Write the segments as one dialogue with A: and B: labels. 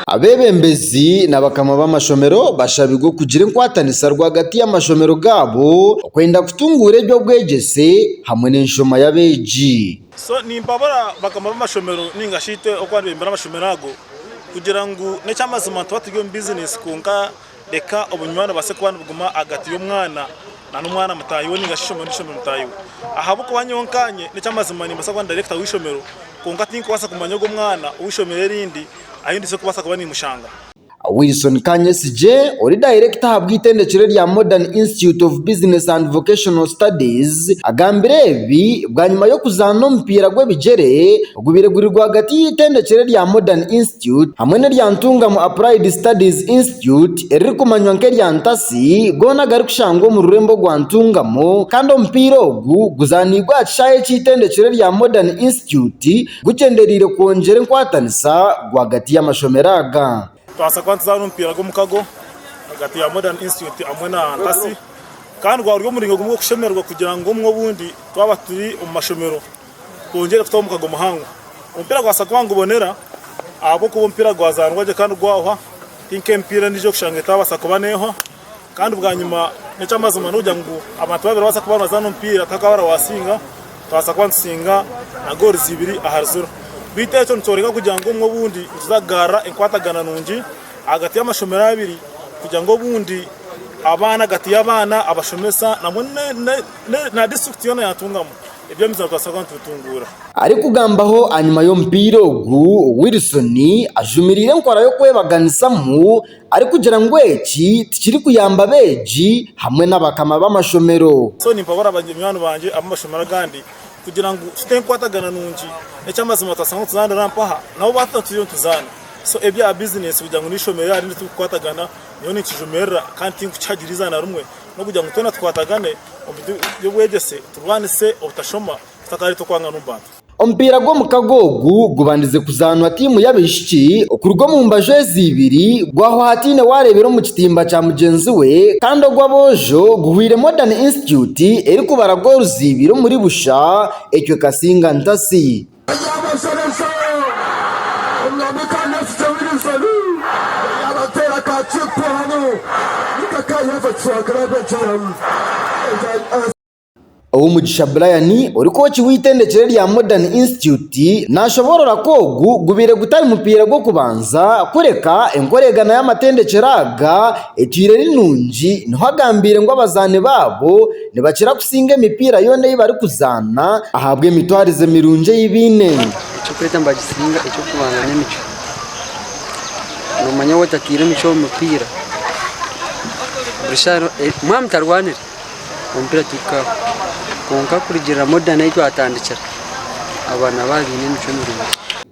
A: Abeebembezi n'abakama b'amashomero bashabirwe okugira enkwatanisa rwagati y'amashomero gaabo okwenda kutunguura eby'obwegyese hamwe n'enshoma y'abeegi. So nimpabura
B: bakama b'amashomero ninga shi itwe oku abebembera amashomero ago kugira ngu n'ekyamazima nituba turi omu bizineesi kwonka reka obunywani bubaase kuba nibuguma ahagati y'omwana na n'omwana mutaahi we nainga shi eishomero n'eishomero mutaahi we. Ahabw'okuba nyowe nkaanye n'eky'amazima nimbaasa kuba ndi dayirekita w'eishomero kwonka tinkubaasa kumanya ogwo mwana ow'eishomero erindi ahu ndaije kubaasa kuba nimushanga. Wilson
A: Kanyesigye ori dayirekita ahabw'eitendekero erya Modern Institute of Business and Vocational Studies agambire ebi bwanyima y'okuzaana omupiira gw'ebigyere ogubaire guri rwagati y'eitendekero erya Modern Institute hamwe n'erya Ntungamo Applied Studies Institute eririkumanywa nk'erya Ntasi goona agarikushangwa omu rurembo rwa Ntungamo kandi omupiira ogu guzaaniibwe aha kishaayi eky'eitendekero erya Modern Institute gugyendereire kwongyera enkwatanisa rwagati y'amashomero aga. Nitubaasa kuba nituzaana
B: omupiira gw'omukago ahagati ya Modern Institute hamwe na Ntasi kandi gwaba guri omuringo gumwe gw'okushemererwa kugira ngu obumwe obundi twaba turi omu mashomero gwongyere kutaho omukago muhango. Omupiira gwa Sagwaa ngubonera ahabw'okuba omupiira gwazaanwa gye kandi gwahwa, ti nk'emipiira endiijo ei orikushanga etaabaasa kuba neehwa. Kandi bwanyima n'eky'amazima n'okugira ngu abantu babiri nibabaasa kuba nibazaana omupiira kandi twaba hariho asinga, twabaasa kuba nitusinga na goorizi ibiri ahari ziro. Beitu ekyo nikyoreka kugira ngu obumwe obundi nituza kugarura enkwatagana nungi ahagati y'amashomero abiri kugira ngu obundi abaana ahagati y'abaana, abashomesa nabwo na disiturikiti yoona yaatungamu. Eby'omugisha nitubaasa kuba nitubitunguura. Arikugambaho
A: ahanyima y'omupiira ogu, Wilson ajumiriire enkora y'okwebaganisamu arikugira ngu eki tikirikuyamba abeegi hamwe n'abakama b'amashomero. So nimpabura banywani
B: bangye ab'amashomero agandi kugira ngu tute enkwatagana nungi. N'eky'amazima nitubaasa kuba nituzaanira mpaha nabo baaba bataturiireho nituzaana. So ebya bizineesi kugira ngu n'eishomero ryaba rindi tirikukwatagana, nyowe ninkijumirira kandi tinkukihagiriza na rimwe. n'okugira ngu twena tukwatagane omu bintu by'obwegyese turwanise obutashoma kutakareeta okwangana omu bantu. Omupiira gw'omukaga
A: ogu gubandize kuzaanwa tiimu y'abaishiki okuruga omu mbaju ezi ibiri gwahwa hataine wareebera omu kitimba kya mugyenzi we kandi ogw'aboojo guhwaire Modern Institute erikubara goolu ziibiri omuri busha ecwe Kasinga Ntasi. Eby'abashobeza, Omwami ka Neesigye Wirizoni yaabateera ka kiipu hanu ninga ka Yahwe Kiswagire abeegyeyamu ebya. Ow'omugisha Brian ori kooci w'eitendekyero erya Modern Institute naashoboorora ku ogu gubaire gutari mupiira gw'okubanza kureka enkoreegana y'amatendekyero aga etwire eri nungi niho agambiire ngu abazaani baabo Nibakira kusinga emipiira yoona ei barikuzaana ahabw'emitwarize mirungi ei baine. Ekyokureeta
C: nibagisinga, ekyokubanza n'emicwe. Noomanya waaba otataire emicwe omu mupiira, buri shaaha yoona mwaba mutarwanire, omupiira tigukabaho. Kwonka kurugiirira Modern ahu twatandikira, abaana baba baine emicwe mirungi.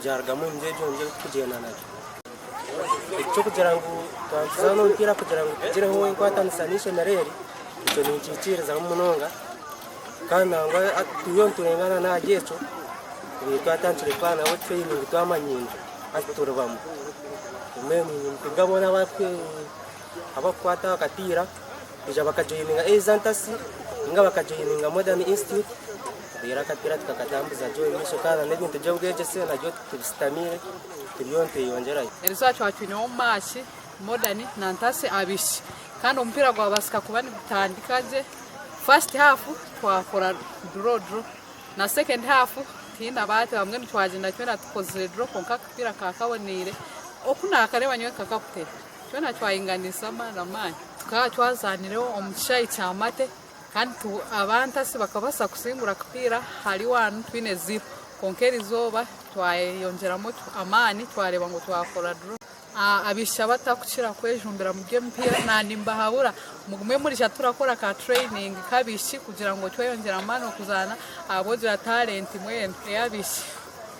D: Byarugamu omu ngyegyo ngyegyo kutugyenda nagyo. Eky'okugira ngu twazaana omupiira kugira ngu tugireho enkwatanisa n'eishomero eri, ekyo ninkiikirizaho munonga kandi nangwa twine niturengana n'ahari ekyo twine twatandikire kukora nabo tureyiningi twamanyiine hati turi bamwe. Mbwenu nimpurira boona abarikukwata aha kapiira. Twija bakajoininga Eza Ntasi ninga bakajoininga Modern Institute reero akapiira tukakatambuza gye omu maisho kandi n'ebintu by'obwegyese nabyo tubisitamiire turiyo nitweyongyerayo. Erizooba twaba twineho
E: maaki Modern na Ntasi abaishiki kandi omupiira gwabaasika kuba nigutandika gye. First half twakora draw draw na second half tihaine abaate bamwe nitwagyenda twena tukozire draw kwonka akapiira kaaba kaboneire oku naakareeba nyowe nkakakute. Twena twahinganisa amaani amaani. Tukaba twazaanire omu kishaayi kya Mate kandi abantasi bakabaasa kusingura akapiira hari waanu twine ziiro. Kwonka erizooba twayeyongyeramu amaani twareeba ngu twakora duro. Abaishiki abatarikukira kwejumbira mu by'emipiira naaba nimbahabura mugume murija turakora ka tureyiningi k'abaishiki kugira ngu tweyongyere amaani okuzaana ahabw'okugira talenti mbwenu ey'abaishiki.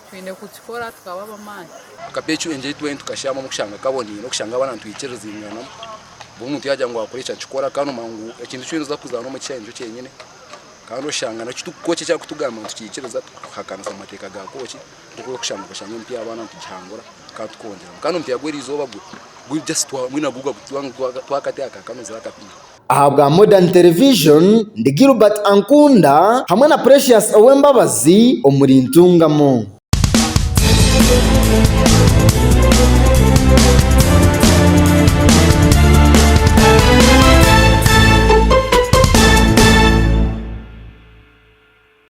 E: Twine kukikora tukaba
F: ab'amaani. Akapecu enjeri twena tukashyiramu omu kushanga kaboniire n'okushanga abana
E: nitwikiriziinganamu.
F: Mbwenu omuntu yaagira ngu wakora eki akikora kandi nomanya ngu ekintu eki oriza kuzaana omu kishaayi nikyo kyenyine. Kandi oshanga naki kooki eki arikutugamba nitukiikiriza tukahakanisa amateeka ga kooki nk'oku orikushanga twashanga emipiira y'abaana nitugihangura kandi tukongeramu. Kandi omupiira gw'erizooba gwe guri just twamwine nagwo gwagu twakateeka ka kanozi akapiira. Ahabwa Modern
A: Television, ndi Gilbert Ankunda hamwe na Precious Owembabazi omuri Ntungamo.